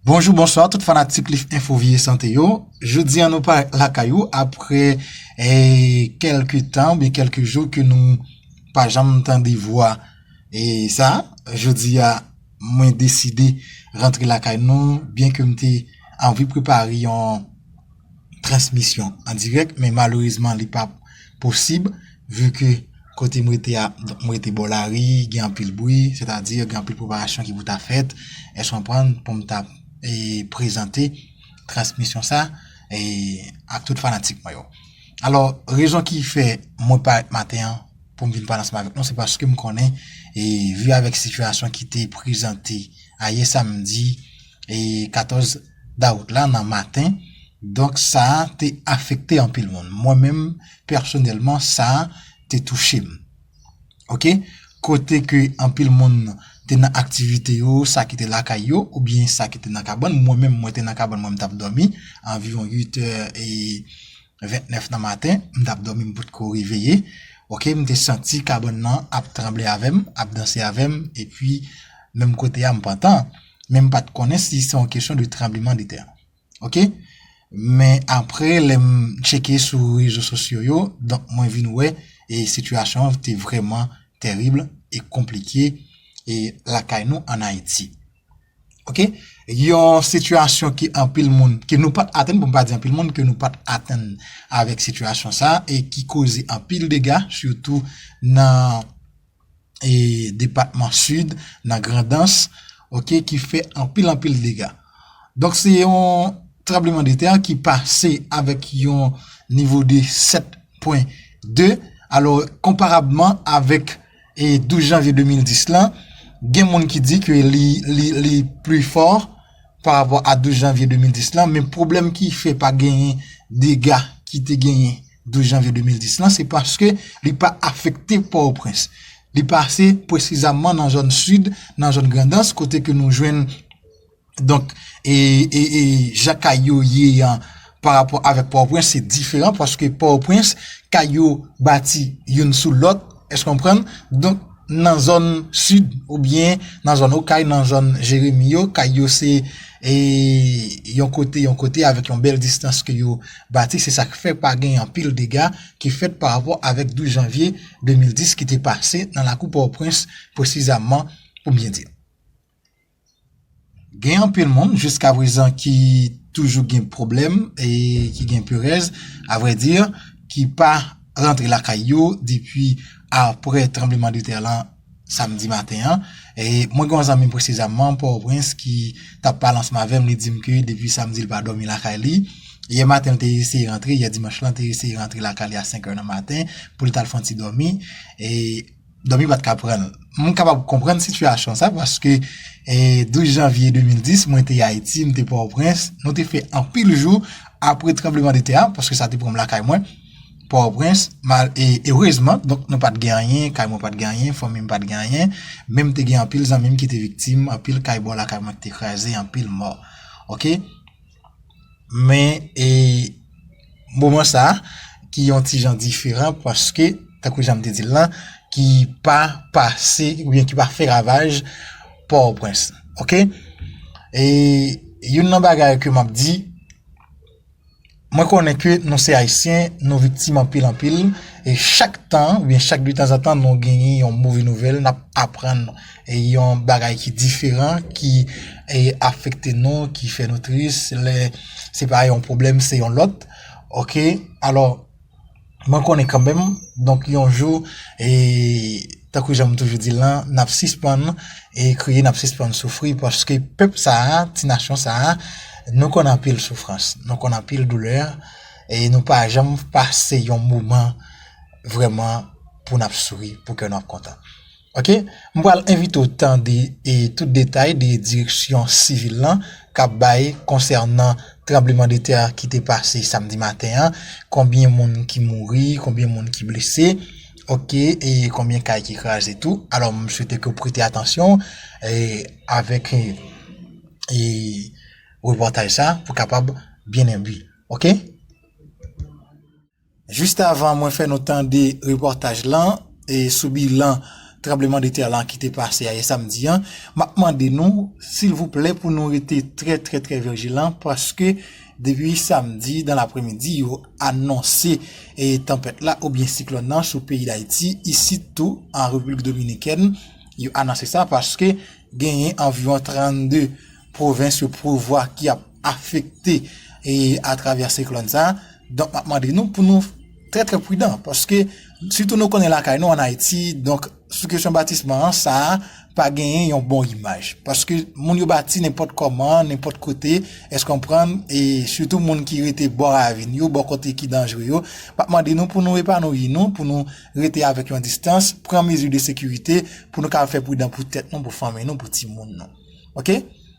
Bonjou bonswa tout fanatik lif enfo vye sante yo Jodi an nou pa lakay ou apre kelke tan Be kelke jou ke nou pa janm tande vwa e sa Jodi a mwen deside rantre lakay nou byen ke m te anvi prepare yon transmisyon an dirèk men malerezman li pa posib vu ke kote m rete a m rete bò lari gen anpil bri sètadi gen anpil preparasyon ki pou ta fèt èske w konprann pou m ta prezante transmisyon sa ak tout fanatik mwen yo alò rezon ki fè mwen parèt maten an pou m vin pale ansanm avèk nou se paske m konnen e vu avèk sitiyasyon ki te prezante ayè samdi 14 dawout la nan maten donk sa te afekte anpil moun mwen menm pèsonèlman sa te touche m ok kote ke anpil moun te nan aktivite yo sa ki te lakay yo oubyen sa ki te nan kabann mwen menm mwen te nan kabann mwen m t ap dòmi anviwon 8 è e 29 nan maten, m tap dòmi m potko reveye, ok, m te santi kabann nan ap tranble avè m, ap danse avè m, epi menm kote a m pantan, men m pat konnen si se yon kesyon de tranbleman de tè, ok, men apre lè m tcheke sou rezo sosyo yo, donk mwen vin wè e sitiyasyon an te vrèman tèrib e konplike e lakay nou an Ayiti. Ok, yon sitiyasyon ke anpil moun, ke nou pat atenn, pou m pa di anpil moun, ke nou pat atenn avèk sitiyasyon sa, e ki koze anpil dega, sitou nan depatman sid, nan grandans, ok, ki fè anpil anpil dega. Donk se yon trableman de tè ki pase avèk yon nivo de 7.2, alò komparabman avèk, 12 janvye 2010 lan, gen moun ki di ke li plus fort par rapport a 12 janvye 2010 lan, men pwoblèm ki fè pa genyen dega ki te genyen 12 janvye 2010 lan, se paske li pa afekte Port-au-Prince. Li pase presizamman nan zòn Sid, nan zòn Grandans, kote ke nou jwenn. Donk, e, e, e, jan kay yo ye an, pa rapò avèk Pòtoprens, se diferan, paske Pòtoprens, kay yo bati youn sou lòt, èske w konprann? Donk, nan zòn sid, ou byen, nan zòn Okay, nan zòn Jeremi yo, kay yo se, e, yon kote, yon kote, avèk yon bèl distans ke yo bati, se sa k fè pa gen anpil dega ki fèt pa rapò avèk 12 janvye 2010 ki te pase nan lakou Pòtoprens, presizamman, pou m byen di. Gen anpil moun jiska prezan ki toujou gen pwoblèm e ki gen perèz, avrè di, ki pa rantre lakay yo depi apre tranbleman de tè lan samdi maten an. Mwen gen yon zanmi m presizamman, Pòtoprens, ki t ap pale ansanm avè m, li di m ke depi samdi li pa dòmi lakay li. Yè maten li te eseye rantre, yè dimanch lan, li te eseye rantre lakay li a 5 è nan maten pou li t al fè yon ti dòmi. dòmi pa t ka pran l. M kapab konprann sitiyasyon sa paske 12 janvye 2010 mwen te Ayiti, m te Pòtoprens, nou te fè anpil jou apre tranbleman de tè a paske sa te pran m lakay mwen, Pòtoprens, e erezman donk nou pa t gen anyen, kay mwen pa t gen anyen, fanmi m pa t gen anyen, men m te gen anpil zanmi m ki te viktim, anpil kay bò lakay mwen ki te kraze, anpil mò. Ok. Men e moman sa ki yon ti jan diferan paske tankou jan m te di l lan ki pa pase oubyen ki pa fè ravaj Pòtoprens. Ok e youn nan bagay ke m ap di mwen konnen ke nou se Ayisyen nou viktim anpil anpil e chak tan oubyen chak detanzantan nou genyen yon move nouvèl n ap aprann. Yon bagay ki diferan, ki afekte nou, ki fè nou tris, lè se pa yon pwoblèm, se yon lòt. Ok, alò, mwen konnen kanmenm, donk yon jou, e, tankou jan m toujou di l lan, n ap sispann e kriye, n ap sispann soufri, paske pèp sa a, ti nasyon sa a, nou konn anpil soufrans, nou konn anpil doulè, e nou pa janm pase yon moman vrèman pou n ap souri, pou kè nou ap kontan. Ok m pral envite w tande e tout detay de direksyon sivil lan kap bay konsènan tranbleman de tè ki te pase samdi maten an konbyen moun ki mouri konbyen moun ki blese ok e konbyen kay ki kraze tou alò m swete ke w prete atansyon e avèk e e reportaj sa pou kapab byen enbi ok. Jist avan mwen fè nou tande repòtaj lan sou bilan tranbleman de tè lan ki te pase ayè samdi an, m ap mande nou silvouplè pou nou rete trè trè trè vijilan paske depi samdi dan lapremidi yo anonse tanpèt la oubyen siklòn lan sou peyi Dayiti, isit tou an Repiblik Dominikèn yo anonse sa paske genyen anviwon 32 pwovens yo prevwa ki ap. afekte atravè siklòn sa a, donk m ap mande nou pou nou trè trè pridan, paske sitou nou konnen lakay nou an Ayiti, donk sou kesyon batisman an, sa a pa genyen yon bon imaj, paske moun yo bati nenpòt kòman, nenpòt kote, èske w konprann, e sitou moun ki rete bò ravin yo, bò kote ki danjre yo, m ap mande nou pou nou epanouyi nou, pou nou rete avèk yon distans, pran mezi de sekirite, pou nou ka fè pridan pou tèt nou, pou fanmi nou, pou timoun nou. Ok.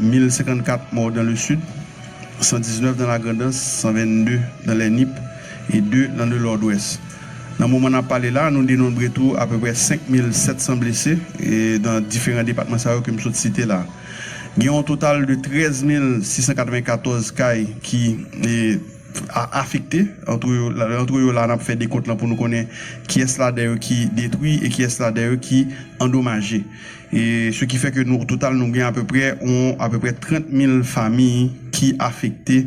1054 morts dans le Sud, 119 dans la Grand'Anse, 122 dans les Nip et 2 dans le Nord-Ouest. Nan moman nap pale la, nou denonbre tou apeprè 5700 blese nan diferan depatman sa yo ke m sot site la. Gen yon total de 13694 kay ki afekte, antre yo la nap fè dekont lan pou nou konnen kiyès ladan yo ki detwi e kiyès ladan yo ki andomaje. Se ki fè ke nou, o total nou gen apeprè yon apeprè 30 mil fami ki afekte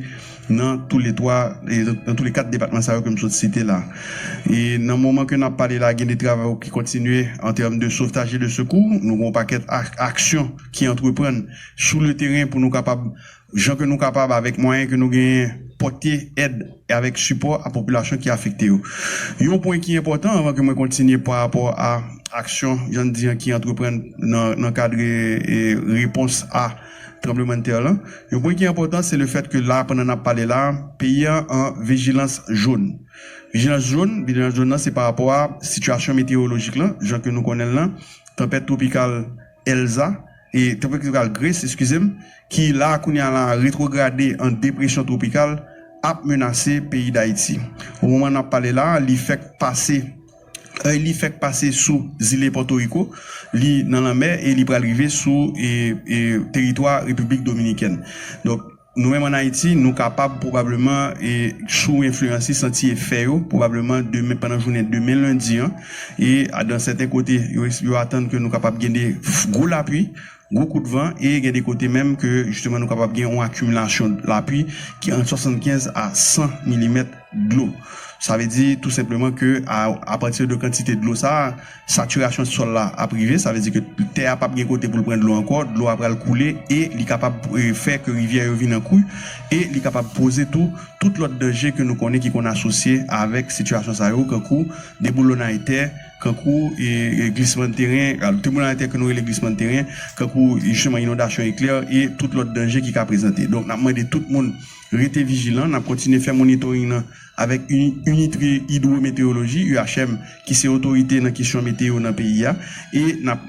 nan tou le 3, nan tou le 4 depatman sa yo ke m sot site la. E nan moman ke n ap pale la gen de travay ou ki kontinye an tèm de sovtaj e de sekou. Nou gen yon pakèt aksyon ki antreprann sou le teren pou nou kapab jan ke nou kapab avèk mwayen ke nou genyen pòte èd avèk sipò a popilasyon ki afekte yo. Yon pwen ki enpòtan anvan ke mwen kontinye pa rapò a aksyon jan n di an ki antreprann nan kad repons a tranblemann tè lan, yon pwen ki enpòtan se le fèt ke la pandan nap pale la peyi an an vijilans jón. Vijilans jón, vijilans jón lan se pa rapò a sitiyasyon meteyolojik lan jan ke nou konnen l lan, tanpèt twopikal Elsa, Tanpèt twopikal Grace, eskize m, ki la a kounye a la a retwograde an depresyon twopikal, ap menase peyi Dayiti. O moman n ap pale la a, li fèk pase, èy li fèk pase sou zile Pòtoriko, li nan lanmè e li pral rive sou teritwa Repiblik Dominikèn. Donk. Nou menm an Ayiti, nou kapab pwobableman e sou enfliyansi santi efè yo pwobableman demen pandan jounen demen lendi an e dan sèten kote yo es yo atann ke nou kapab gen de gwo lapui, gwo kout van e gen de kote menm ke jisteman nou kapab gen yon akimilasyon lapui ki ant 75 a 100 milimèt dlo. Sa vle di tou senpleman ke a apati de kantite dlo sa a, Satirasyon sòl la ap rive, sa vle di ke tè a pap gen kote pou l pran dlo ankò, dlo a pral koule e li kapab fè ke rivyè yo vin an kwi e li kapab poze tou tout lòt danje ke nou konnen ki konn asosye avèk sitirasyon sa yo kankou deboulonnay tè, kankou glisman teren, deboulonnay tè ke nou rele glisman teren, kankou jisteman inondasyon eklè e tout lòt danje ki ka prezante. Donk n ap mande tout moun rete vijilan, n ap kontinye fè monitoring nan. avèk Unitre Hydrométéorologie, UHM, ki se otorite nan kesyon meteyo nan peyi a, e n ap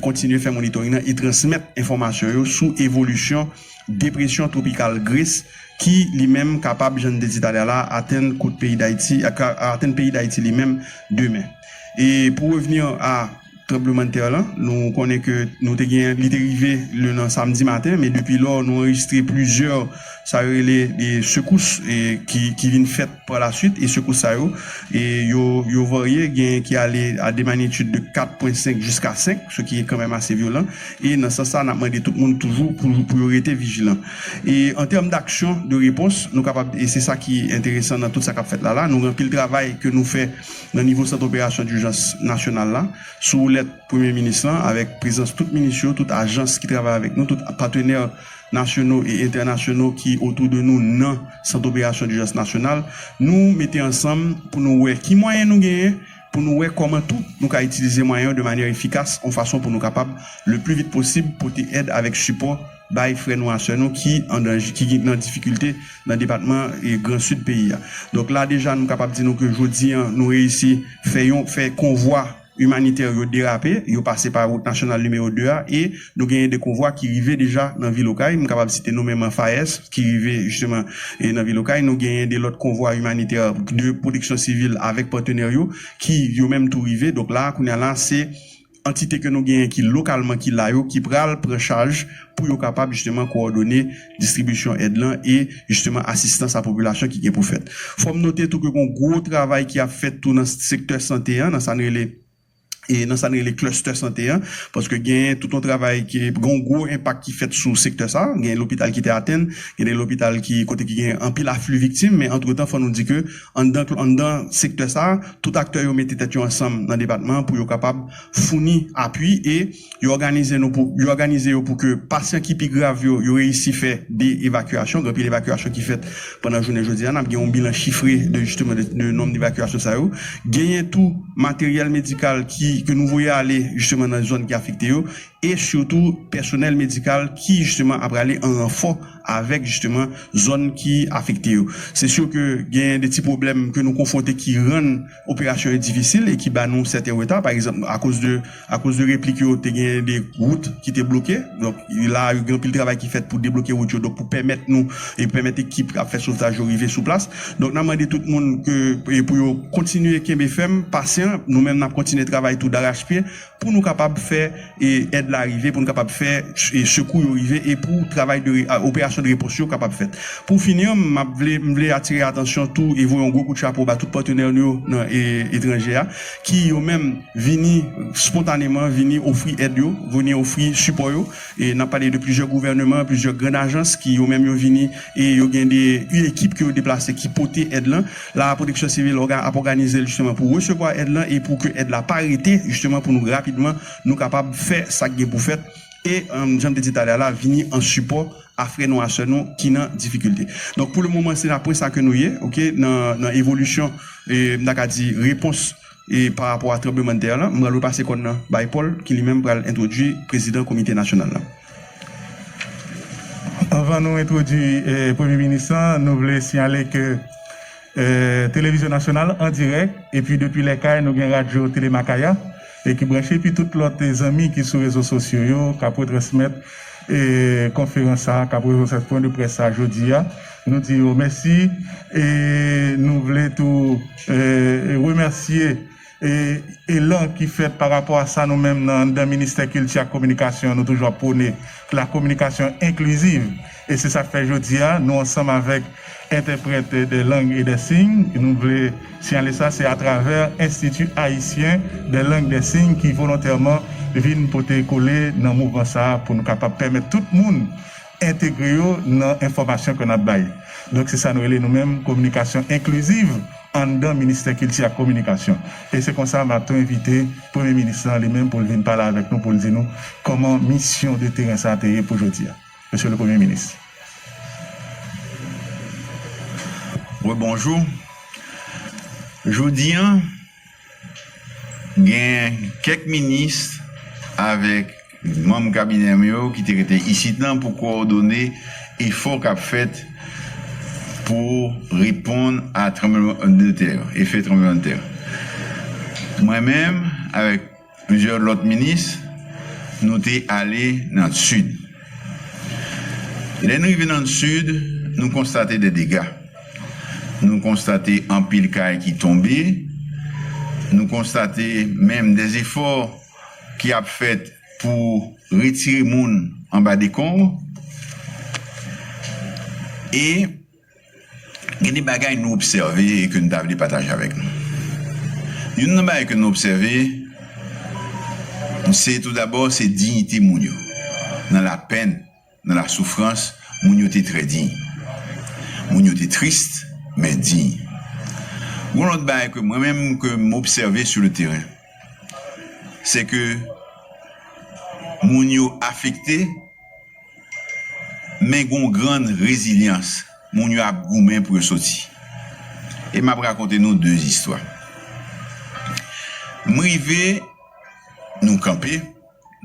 kontinye fè monitoring nan e transmèt enfòmasyon yo sou evolisyon depresyon twopikal Grace ki li menm kapab, jan n te di talè a la a, atenn kot peyi Dayiti, atenn peyi Dayiti li menm demen. E pou revenir a. tranblemanntè lan. Nou konnen ke nou te gen, li te rive le nan samdi maten, men depi lò nou anrejistre plizyè sa yo rele de sekous ki vin fèt pa la swit e sekous sa yo yo varye, gen ki ale a de magnitude de 4 pwen 5 jiska 5, se ki kan menm ase vyolan e nan sans sa nap mande tout moun toujou pou yo rete vijilan. E an tèm daksyon de repons nou kapab e se sa ki enteresan nan tout sa kap fèt la la, nou gen anpil travay ke nou fè. nan nivo Sant Operasyon Dijans Nasyonal la, sou woulèt Premye Minis lan, avèk prezans tout minis yo, tout ajans ki travay avèk nou, tout patenè nasyono e entènasyono ki otou de nou nan Sant Operasyon Dijans Nasyonal, nou mete ansanm pou nou wè ki mwayen nou genyen, pou nou wè kòman tou nou ka itilize mwayen yo de manyè efikas, yon fason pou nou kapab, le pli vit posib, pote èd avèk sipò. bay frè nou a sè nou ki an danje, ki nan difikilte nan depatman gran sid peyi a. Donk la deja nou kapab di nou ke jodi an nou reyisi fè yon, fè konvwa imanitè yo derape, yo pase pa wout nasyonal nimewo 2 a e nou genyen 2 konvwa ki rive deja nan vil Okay, m kapab site nomenman FAES ki rive jisteman nan vil Okay, nou genyen 2 lòt konvwa imanitè de pwoteksyon sivil avèk patenè yo ki yo menm tou rive, donk la kounya la se. antite ke nou genyen ki lokalman ki la yo ki pral pran chaj pou yo kapab jisteman kowòdone distribisyon èd lan e jisteman asistans a popilasyon ki gen pou fèt. Fò m note tou ke gon gwo travay ki ap fèt tou nan sektè sante an, nan sa n rele e nan sa n rele cluster sante an, paske genyen tout yon travay ke gon gwo enpak ki fèt sou sektè sa, genyen lopital ki te atenn, gen de lopital ki kote ki genyen anpil afli viktim, men antretan fò nou di ke. Anndan sektè sa, tout aktè yo mete tèt yo ansanm nan depatman pou yo kapab founi apui e yo òganize yo pou ke pasyan ki pi grav yo, yo reyisi fè 2 evakyasyon, gen anpil evakyasyon ki fèt pandan jounen jodi a, n ap gen yon bilan chifre de jisteman de nonm de evakyasyon sa yo. Genyen tou materyèl medikal ki ke nou voye ale jisteman nan zòn ki afekte yo e sitou pèsonèl medikal ki jisteman ap prale an ranfò avèk jisteman zòn ki afekte yo. Se sur ke genyen de ti pwoblèm ke nou konfwonte ki rann operasyon yo difisil e ki ba nou sèten reta. Pa egzanp, akoz de akoz de replik yo te genyen de wout ki te bloke. Donk, la a yo gen anpil travay ki fèt pou debloke wout yo donk pou pèmèt nou e pèmèt ekip k ap fè sovtaj yo rive sou plas. Donk, n ap mande tout moun ke pou yo kontinye kenbe fèm, pasyan. Nou menm n ap kontinye travay tou darachpye. pou nou kapab fè èd la rive, pou nou kapab fè sekou yo rive e pou travay de operasyon de repons yo kapab fèt. Pou fini an, m ap vle m vle atire atansyon tou e voye yon gwo kout chapo ba tout patenè nou yo nan etranje a ki yo menm vini spontaneman vini ofri èd yo, vini ofri sipò yo. E nap pale de plizyè gouvèneman, plizyè grand ajans ki yo menm yo vini e yo gen de u ekip ke yo deplase ki pote èd lan. La pwoteksyon sivil òga ap òganize l jisteman pou resevwa èd lan e pou ke èd la pa rete jisteman pou nou rapidman nou kapab fè sak gen pou fèt e janm te di talè a la vini an sipò a frè nou a sè nou ki nan difikilte. Donk pou le moman se nan pwen sa ke nou ye ok nan nan evolisyon e m ta ka di repons E pa rapò a tranblemann tè la, m pral repase kòn nan bay Pòl ki li menm pral entwodui prezidan komite nasyonal la. Anvan nou entwodui premye minis lan, nou vle siyale ke televizyon nasyonal an dirèk epi depi lè kay nou gen radyo Tele Makaya e ki branche epi tout lòt zanmi ki sou rezo sosyo yo k ap retransmèt konferans sa a, k ap retransmèt pwen de près sa a jodi a. Nou di yo mèsi e nou vle tou remèsye elan ki fèt pa rapò a sa nou menm nan anndan Ministè Kilti ak Kominikasyon nou toujou ap pwone, la kominikasyon enkliziv. E se sa k fè jodi a nou ansanm avèk entèprèt dè lang e dè siy, nou vle siyale sa, se atravè Enstiti Ayisyen dè lang dè siy ki volontèman vin pote kole nan mouvman sa pou nou kapab pèmèt tout moun entegre yo nan enfòmasyon ke n ap bay. Donk se sa nou rele nou menm kominikasyon enkliziv anndan Ministè Kilti ak Kominikasyon. E se konsa m ap tou envite Premye Minis lan li menm pou l vin pale avèk nou pou l di nou kòman misyon de teren sa te ye pou jodi a. Mesye le Premye Minis. Rebonjou. Jodi an. Gen kèk minis avèk manm kabinè m yo ki te rete isit lan pou kowòdone efò k ap fèt pou reponn a tranbleman de tè yo, efè tranbleman de tè yo. Mwen menm avèk. Plizyè lòt minis nou te ale nan Sid. Lè n rive nan Sid, nou konstate de dega. Nou konstate anpil kay ki tonbe, nou konstate menm de zefò ki ap fèt pou retire moun anba dekonb e. Gen de bagay nou obsève e ke nou ta vle pataje avèk nou. Youn nan bagay ke nou obsève se tou dabò se dignite moun yo. Nan lapenn, nan lasoufrans, moun yo te trè diy. Moun yo te tris, men diy. Yon lòt bagay ke mwen menm ke m obsève sou le teren, se ke moun yo afekte. men gen yon gran rezilyans, moun yo ap goumen pou yo soti. E m ap rakonte nou de istwa. M rive, nou kanpe,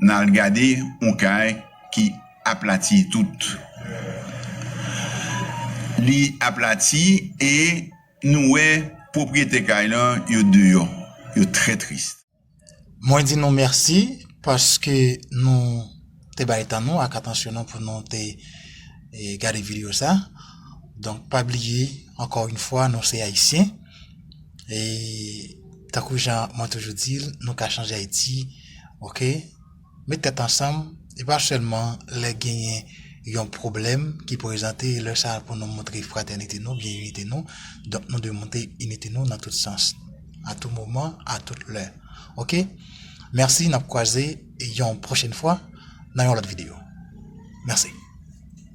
n al gade yon kay ki aplati tout. Li aplati e nou wè pwopriyetè kay lan yo deyò, yo trè tris. Mwen di nou mèsi paske nou te bay tan nou ak atansyon nou pou nou te gade video sa. Donk pa bliye ankò yon fwa nou se ayisyen e tankou jan mwen toujou di nou ka chanje ayiti ok. Met tèt ansanm, e pa sèlman lè genyen yon pwoblèm ki prezante, e lè sa a pou nou montre fratènite nou byen inite nou, donk nou dwe montre inite nou nan tout sans, a tou moman, a tout lè. Ok, mèsi, n ap kwaze yon pwochèn fwa nan yon lòt videyo. Mèsi.